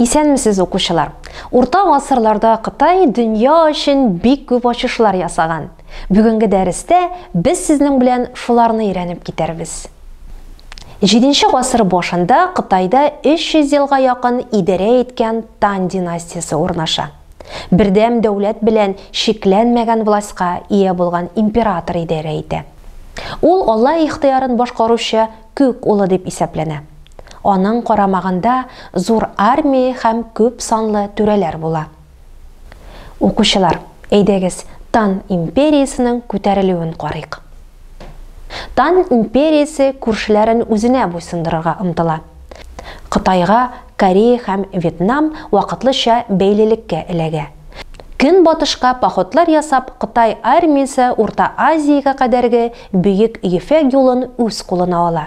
Исәнмесез укучылар! Урта гасырларда Кытай дөнья өчен бик күп ачышлар ясаган. Бүгенге дәрестә без сезнең белән шуларны өйрәнеп китәрбез. Җиденче гасыр башында Кытайда 300 елга якын идарә иткән Тан династиясе урнаша. Бердәм дәүләт белән чикләнмәгән властька ия булган император идарә итә. Ул Алла ихтыярын башкаручы күк улы дип исәпләнә. Аның карамагында зур армия һәм күп санлы түрәләр була. Укучылар, әйдәгез, Тан империясенең күтәрелүен карыйк. Тан империясе күршеләрен үзенә буйсындырырга омтыла. Кытайга Корея һәм Вьетнам вакытлыча бәйлелеккә эләгә. Көнбатышка походлар ясап, Кытай армиясе Урта Азиягә кадәрге Бөек Ефәк юлын үз кулына ала.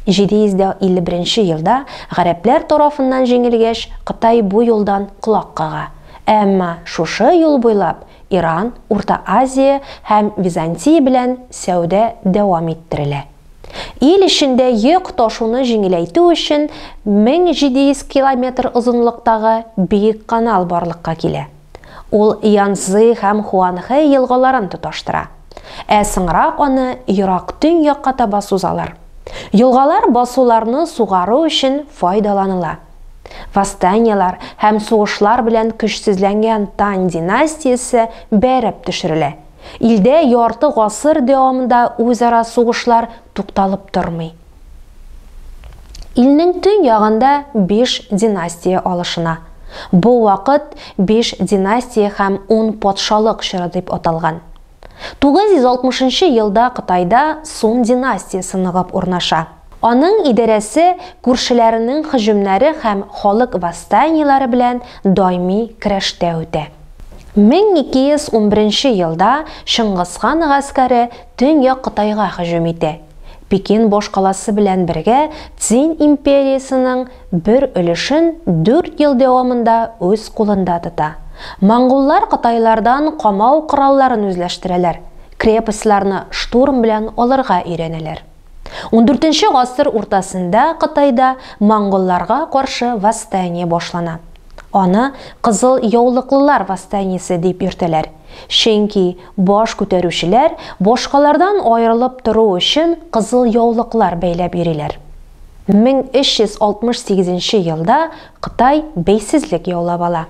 751 нче елда гарәпләр тарафыннан җиңелгәч, Кытай бу юлдан колак кага. Әмма шушы юл буйлап Иран, Урта Азия һәм Византия белән сәүдә дәвам иттерелә. Ил эчендә йөк ташуны җиңеләйтү өчен 1700 километр озынлыктагы Биек канал барлыкка килә. Ул Янцзы һәм Хуанхэ елгаларын тоташтыра. Ә соңрак аны ерак төньякка таба сузалар. Елгалар басуларны сугару өчен файдаланыла. Восстаниелар һәм сугышлар белән көчсезләнгән Тань династиясе бәреп төшерелә. Илдә ярты гасыр дәвамында үзара сугышлар тукталып тормый. Илнең төн ягында биш династия алышына. Бу вакыт биш династия һәм ун патшалык чоры дип аталган. 960 нчы елда Кытайда Сун династиясе ныгып урнаша. Аның идарәсе күршеләренең һөҗүмнәре һәм халык восстаниеләре белән даими көрәштә үтә. 1211 нче елда Чыңгызхан гаскәре Төньяк Кытайга һөҗүм итә. Пекин башкаласы белән бергә Цзинь империясенең бер өлешен дүрт ел дәвамында үз кулында тота. Монголлар кытайлардан камау коралларын үзләштерәләр, крепостьларны штурм белән алырга өйрәнәләр. Ундүртенче гасыр уртасында Кытайда монголларга каршы восстание башлана. Аны Кызыл яулыклылар восстаниесе дип йөртәләр, чөнки Баш күтәрүчеләр башкалардан аерылып тору өчен кызыл яулыклар бәйләп йөриләр. 1368 нче елда Кытай бәйсезлек яулап ала.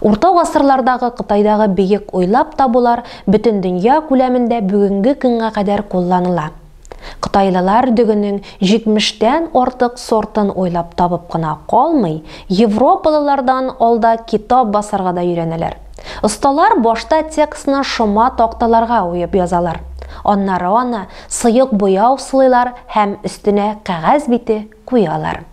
Урта гасырлардагы Кытайдагы бөек уйлап табулар бөтендөнья күләмендә бүгенге көнгә кадәр кулланыла. Кытайлылар дөгенең 70 тән артык сортын уйлап табып кына калмый, европалылардан алда китап басарга да өйрәнәләр. Осталар башта текстны шома такталарга уеп язалар. Аннары аны сыек буяу сылыйлар һәм өстенә кәгазь бите куялар.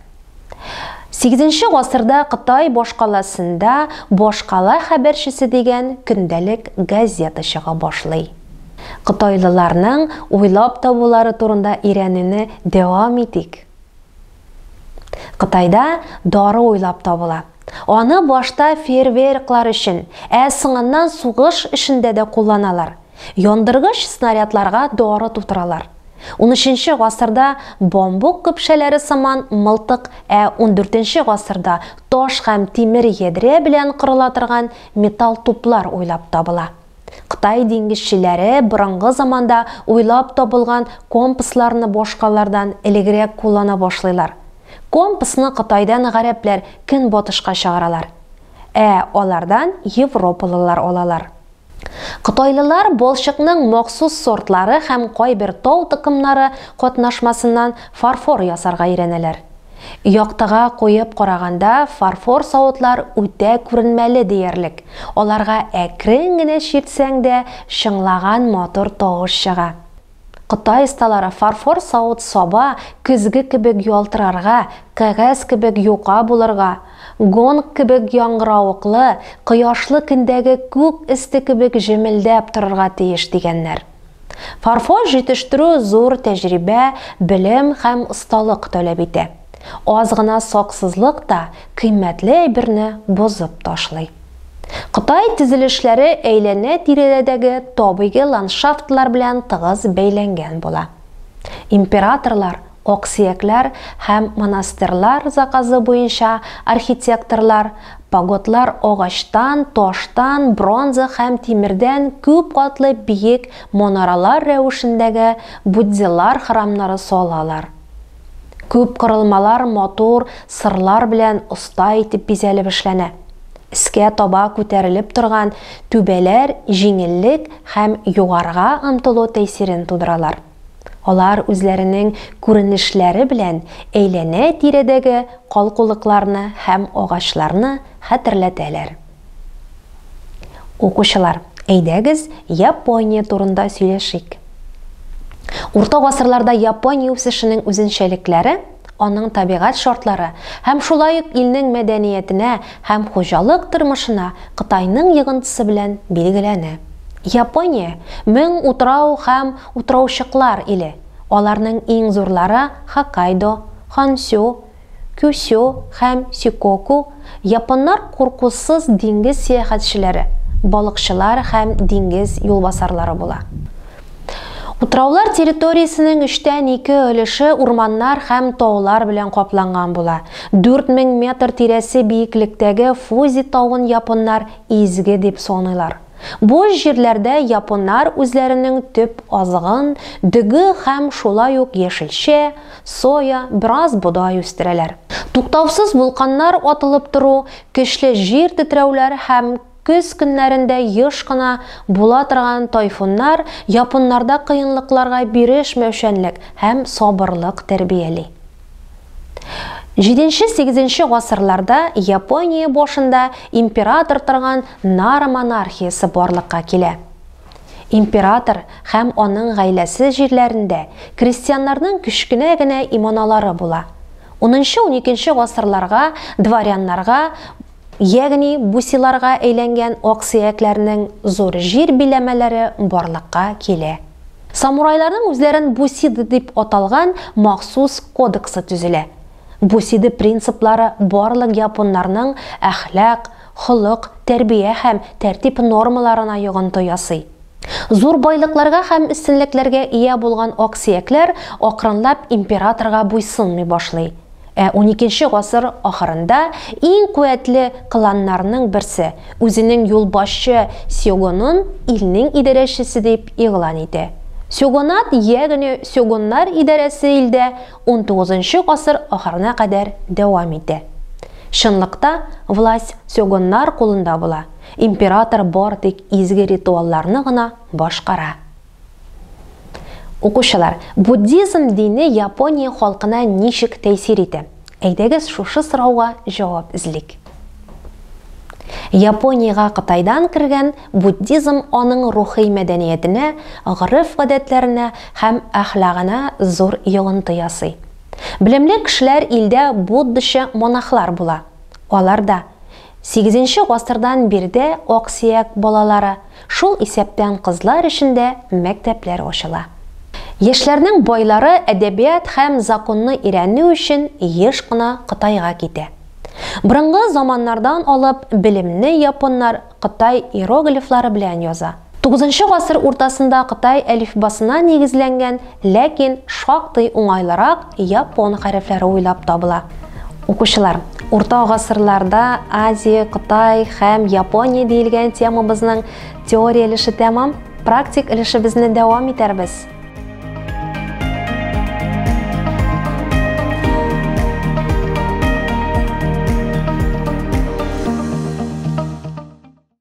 Сигезенче гасырда Кытай башкаласында Башкала хәбәрчесе дигән көндәлек газета чыга башлый. Кытайлыларның уйлап табулары турында өйрәнүне дәвам итик. Кытайда дары уйлап табыла. Аны башта фейерверклар өчен, ә соңыннан сугыш эшендә дә кулланалар. Яндыргыч снарядларга дары тутыралар. Унөченче гасырда бамбук көпшәләре сыман мылтык, ә ундүртенче гасырда таш һәм тимер ядрә белән кырыла торган металл туплар уйлап табыла. Кытай диңгезчеләре борынгы заманда уйлап табылган компасларны башкалардан элегрәк куллана башлыйлар. Компасны Кытайдан гарәпләр Көнбатышка чыгаралар. Ә алардан европалылар алалар. Кытайлылар балчыкның махсус сортлары һәм кайбер тау токымнары катнашмасыннан фарфор ясарга өйрәнәләр. Яктыга куеп караганда, фарфор савытлар үтә күренмәле диярлек, аларга әкрен генә чиртсәң дә, чыңлаган матур тавыш чыга. Кытай осталары фарфор савыт-саба көзге кебек ялтырарга, кәгазь кебек юка булырга, гонг кебек яңгыравыклы, кояшлы көндәге күк өсте кебек җемелдәп торырга тиеш, дигәннәр. Фарфор җитештерү зур тәҗрибә, белем һәм осталык таләп итә. Аз гына саксызлык та кыйммәтле әйберне бозып ташлый. Кытай төзелешләре әйләнә-тирәдәге табигый ландшафтлар белән тыгыз бәйләнгән була. Императорлар, аксөякләр һәм монастырьлар заказы буенча архитекторлар пагодлар агачтан, таштан, бронза һәм тимердән күп катлы биек манаралар рәвешендәге буддилар храмнары салалар. Күп корылмалар матур сырлар белән оста итеп бизәлеп эшләнә. Өскә таба күтәрелеп торган түбәләр җиңеллек һәм югарыга омтылу тәэсирен тудыралар. Алар үзләренең күренешләре белән әйләнә-тирәдәге калкулыкларны һәм агачларны хәтерләтәләр. Укучылар, әйдәгез, Япония турында сөйләшик. Урта гасырларда Япония үсешенең үзенчәлекләре, аның табигать шартлары һәм шулай ук илнең мәдәниятенә һәм хуҗалык тормышына Кытайның йогынтысы белән билгеләнә. Япония, мең утрау һәм утраучыклар иле, аларның иң зурлары Хоккайдо, Хонсю, Кюсё һәм Сикоку, японнар куркусыз диңгез сәяхәтчеләре, балыкчылар һәм диңгез юлбасарлары була. Утраулар территориясенең өчтән ике өлеше урманнар һәм таулар белән капланган була. 4000 метр тирәсе биеклектәге Фудзи тавын японнар изге дип саныйлар. Буш җирләрдә японнар үзләренең төп азыгын, дөге һәм шулай ук яшелчә, соя, бераз бодай үстерәләр. Туктаусыз вулканнар атылып тору, көчле җир тетрәүләр һәм көз көннәрендә еш кына була торган тайфуннар японнарда кыенлыкларга бирешмәүчәнлек һәм сабырлык тәрбияли. 7-8 гасырларда Япония башында император торган Нара монархиясе барлыкка килә. Император һәм аның гаиләсе җирләрендә крестьяннарның кечкенә генә иманалары була. 10-12 гасырларга дворяннарга Ягъни бусиларга әйләнгән аксөякләрнең зур җир биләмәләре барлыкка килә. Самурайларның үзләрен бусиды дип аталган махсус кодексы төзелә. Бусиды принциплары барлык японнарның әхлак, холык, тәрбия һәм тәртип нормаларына йогынты ясый. Зур байлыкларга һәм өстенлекләргә ия булган аксөякләр акрынлап императорга буйсынмый башлый. Ә уникенче гасыр ахырында иң куәтле кланнарның берсе үзенең юлбашчы сёгонын илнең идарәчесе дип игълан итә. Сёгонат, ягъни сёгоннар идарәсе илдә унтугызынчы гасыр ахырына кадәр дәвам итә. Чынлыкта, власть сёгоннар кулында була, император бар тик изге ритуалларны гына башкара. Укучылар, буддизм дине Япония халкына ничек тәэсир итә? Әйдәгез шушы сорауга җавап эзлик. Япониягә Кытайдан кергән буддизм аның рухи мәдәниятенә, гореф-гадәтләренә һәм әхлагына зур йогынты ясый. Белемле кешеләр илдә буддачы монахлар була. Алар да Сигезенче гасырдан биредә аксөяк балалары, шул исәптән кызлар өчен дә мәктәпләр ачыла. Яшьләрнең байлары әдәбият һәм законны өйрәнү өчен еш кына Кытайга китә. Борынгы заманнардан алып белемне японнар кытай иероглифлары белән яза. Тугызынчы гасыр уртасында кытай әлифбасына нигезләнгән, ләкин шактый уңайлырак япон хәрефләре уйлап табыла. Укучылар, урта гасырларда Азия, Кытай һәм Япония диелгән темабызның теория өлеше тәмам, практик өлешебезне дәвам итәрбез.